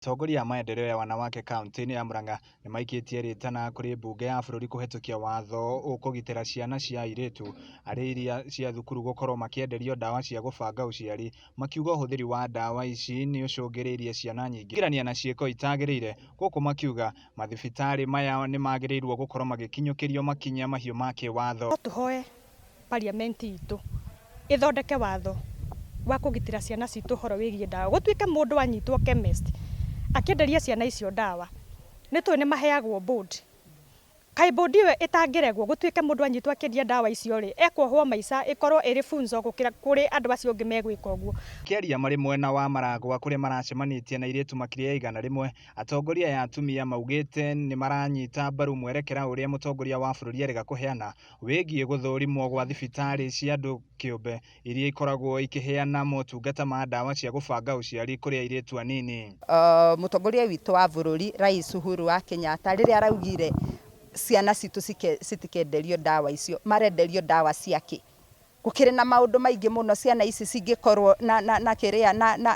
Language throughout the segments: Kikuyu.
Atongoria a maendeleo ya wanawake kaunti-inĩ ya Murang'a nĩ maikĩtie rĩtana kũrĩ mbunge ya bũrũri kũhetũkia watho ũkũgitĩra ciana cia airĩtu arĩ iria cia thukuru gũkorwo makĩenderio ndawa cia gũbanga ũciari, makiuga ũhũthĩri wa ndawa ici nĩ ũcũngĩrĩirie ciana nyingĩ kũhĩngĩrania na ciĩko itagĩrĩire, gũkũ makiuga mathibitarĩ maya nĩ magĩrĩirwo gũkorwo magĩkinyũkĩrio makinya mahiũ ma kĩwatho. No tũhoe parliament itũ ĩthondeke watho wa kũgitĩra ciana citũ ũhoro wĩgiĩ ndawa. Gũtuĩke mũndũ anyitwo chemist akĩenderia ciana icio ndawa, nĩ tũĩ nĩ maheagwo bond. Kaĩ bond ĩyo ĩtangĩregwo gũtuĩke mũndũ anyitwo akĩendia ndawa icio rĩ, ekwohwo maica ĩkorwo ĩrĩ funzo gũkĩra kũrĩ andũ acio ũngĩ megwĩka ũguo. Makĩaria marĩ mwena wa Maragwa kũrĩa maracemanĩtie na airĩtu makĩria ya igana rĩmwe, atongoria aya atumia maugĩte nĩmaranyita mbaru mwerekera ũrĩa mũtongoria wa bũrũri arĩga kũheana wĩgiĩ gũthũrimwo gwa thibitarĩ cia andũ kĩũmbe iria ikoragwo ikĩheana motungata ma ndawa cia gũbanga ũciari kũrĩ airĩtu anini. Mũtongoria witũ wa bũrũri Rais Uhuru wa Kenyatta rĩrĩa araugire ciana citũ citikenderio ndawa icio, marenderio ndawa cia kĩ? Gũkĩrĩ na maũndũ maingĩ mũno ciana ici cingĩkorũo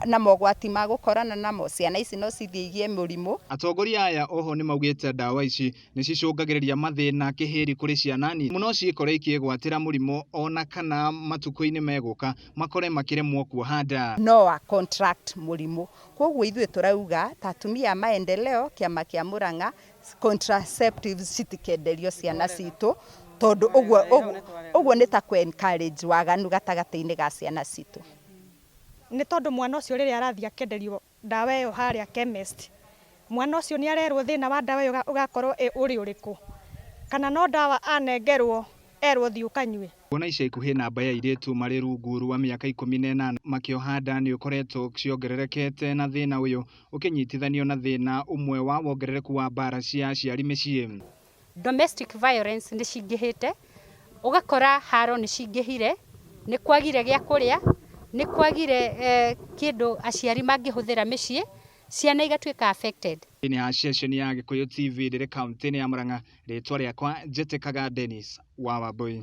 na mogwati ma gũkorana namo. Ciana ici no cithiĩ igĩe mũrimũ. Atongoria aya oho nĩ maugĩte ndawa ici nĩ cicũngagĩrĩria mathĩna kĩhĩri kũrĩ ciana nini no ciĩkore ikĩĩgwatĩra mũrimũ o na kana matukũ-inĩ megũka makore makĩremwo kuoha nda. No a contract mũrimũ. Kwoguo ithuĩ tũrauga ta atumia a Maendeleo, kĩama kĩa Murang'a, contraceptives citikenderio ciana citũ tondũ ũguo ũguo ũguo nĩ ta kũ encourage waganu gatagatĩ-inĩ ga ciana citũ. Nĩ tondũ mwana ũcio rĩrĩa arathiĩ akenderio ndawa ĩyo harĩa chemist, mwana ũcio nĩ arerwo thĩna wa ndawa ĩyo ũgakorwo ũrĩ ũrĩkũ, kana no ndawa anengerwo erwo thiĩ ũkanyue. Kuona ica ikuhĩ namba ya airĩtu marĩ rungu rwa mĩaka ikũmi na ĩnana makĩoha nda nĩ ũkoretwo ciongererekete na thĩna ũyũ ũkĩnyitithanio na thĩna ũmwe wa wongerereku wa mbara cia aciari mĩciĩ. Domestic violence nĩ cingĩhĩte, ũgakora haro nĩ cingĩhire, nĩ kwagire gĩa kũrĩa, nĩ kwagire kĩndũ aciari mangĩhũthĩra mĩciĩ, ciana igatuĩka affected. Thĩinĩ ya ceceni ya Gĩkũyũ TV ndĩrĩ kauntĩ-inĩ ya Murang'a, rĩtwa rĩakwa njĩtĩkaga Dennis wa Wambũi.